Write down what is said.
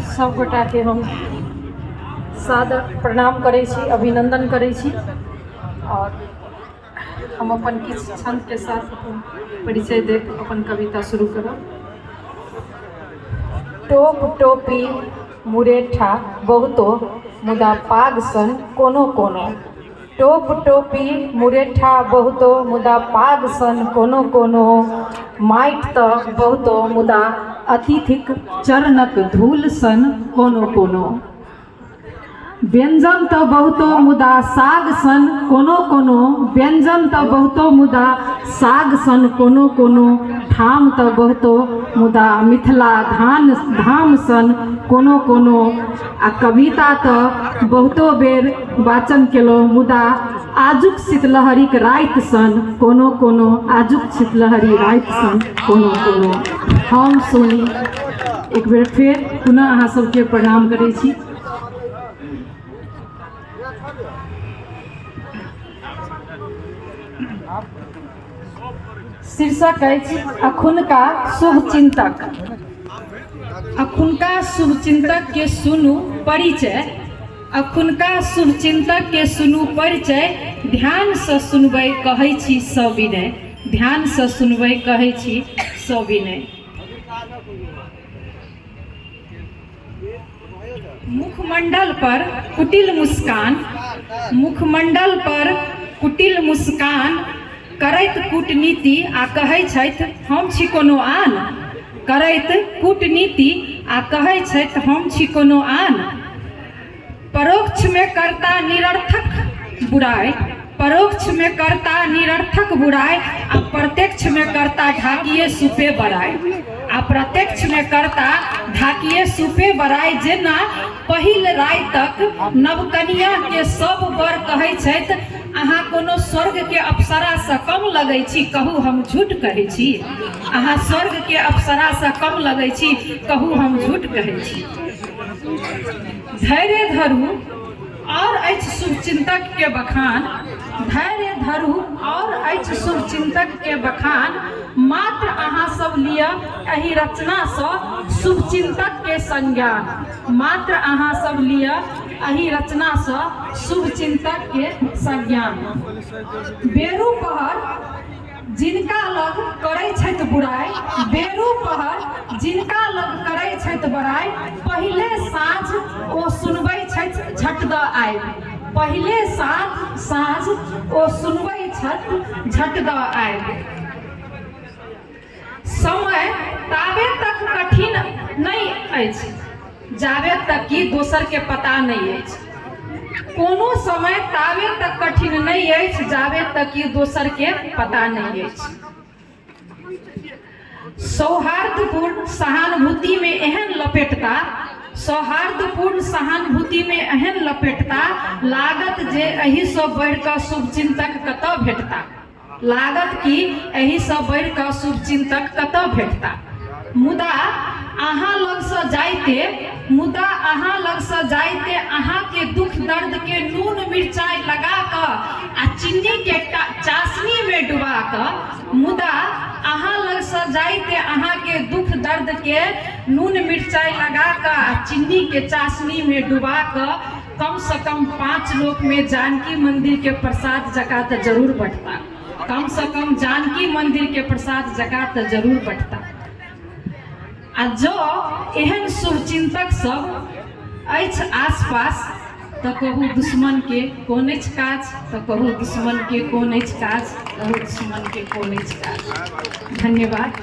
सभगोटाके हम सादर प्रणाम करै छी अभिनन्दन करै छी आओर हम अपन किछु छन्दके साथ अपन परिचय देब अपन कविता शुरू करब टोप टोपी मुरेठा बहुतो मुदा पाग सन कोनो कोनो टोप, टोपी, मुरेठा बहुतो मुदा पाग सन कोनो कोनो माटि तँ बहुतो मुदा अतिथिक चरणक धूल सन कोनो कोनो व्यंजन तँ बहुतो मुदा साग सन कोनो कोनो व्यंजन तँ बहुतो मुदा साग सन कोनो कोनो ठाम तँ बहुतो मुदा मिथिला धान धाम सन कोनो कोनो आ कविता तऽ बहुतो बेर वाचन केलहुँ मुदा आजुक शीतलहरीक राति सन कोनो कोनो आजुक शीतलहरी राति सन कोनो कोनो हम सोनी एक बेर फेर पुनः अहाँ सबके प्रणाम करै छी शीर्षक अछि अखुनका शुभचिन्तक अखुनका शुभचिन्तकके सुनू परिचय अखुनका शुभचिन्तकके सुनू परिचय ध्यानसँ सुनबै कहै छी सविनय ध्यानसँ सुनबै कहै छी सविनय मुखमण्डल पर कुटिल मुस्कान मुखमण्डल पर कुटिल मुस्कान करैत कूटनीति आ कहै छथि हम छी कोनो आन करैत कूटनीति आ कहै छथि हम छी कोनो आन परोक्षमे कर्ता निरर्थक बुराइ परोक्षमे कर्ता निरर्थक बुराइ आ प्रत्यक्षमे कर्ता ढाकिए सुपे बड़ाइ आ प्रत्यक्षमे कर्ता ढाकिए सुपे बड़ाइ जेना पहिल रातिक नवकनियाँके सभ बर कहै छथि अहाँ कोनो स्वर्गके अप्सरासँ कम लगै छी कहू हम झूठ कहै छी अहाँ स्वर्गके अप्सरासँ कम लगै छी कहू हम झूठ कहै छी धैर्य धरू और अछि शुभ चिंतक के बखान धैर्य धरू और अछि शुभ चिंतक के बखान मात्र अहाँ सब लिअ एहि रचना से शुभ चिंतक के संज्ञान मात्र अहाँ सब लिअ एहि रचना से शुभ चिंतक के संज्ञान बेरू पहर जिनका लग करै छथि बुराइ बेरु पहर जिनका लग करै छथि बड़ाइ पहिले साँझ ओ सुनबै छथि झट दऽ आइ पहिले साँझ साँझ ओ सुनबै छथि झट दऽ आइ समय ताबे तक कठिन नहि अछि जाबे तक कि दोसरके पता नहि अछि कोनो समय ताबे तक कठिन नहि अछि जाबे तक कि दोसरके पता नहि अछि सौहार्दपूर्ण सहानुभूतिमे एहन लपेटता सौहार्दपूर्ण सहानुभूतिमे एहन लपेटता लागत जे एहिसँ बढ़ि कऽ शुभचिन्तक कतय भेटता लागत कि एहिसँ बढ़ि कऽ शुभचिन्तक कतय भेटताह मुदा अहाँ लगसँ जाइते मुदा अहाँ लगसँ जाइते अहाँके दुख दर्दके नून मिरचाइ लगा कऽ आ चीनीके चाशनीमे डुबा कऽ मुदा अहाँ लगसँ जाइते अहाँके दुख दर्दके नून मिरचाइ लगा कऽ आ चीनीके चाशनीमे डुबा कऽ कम से कम पांच लोक में जानकी मंदिर के प्रसाद जका तो जरूर बटता कम से कम जानकी मंदिर के प्रसाद जका तो जरूर बटता आ जो एहन शुभ चिंतक सब अछि आसपास तो कहू दुश्मन के कौन अछि काज तो कहू दुश्मन के कौन अछि काज कहू दुश्मन के कौन अछि काज धन्यवाद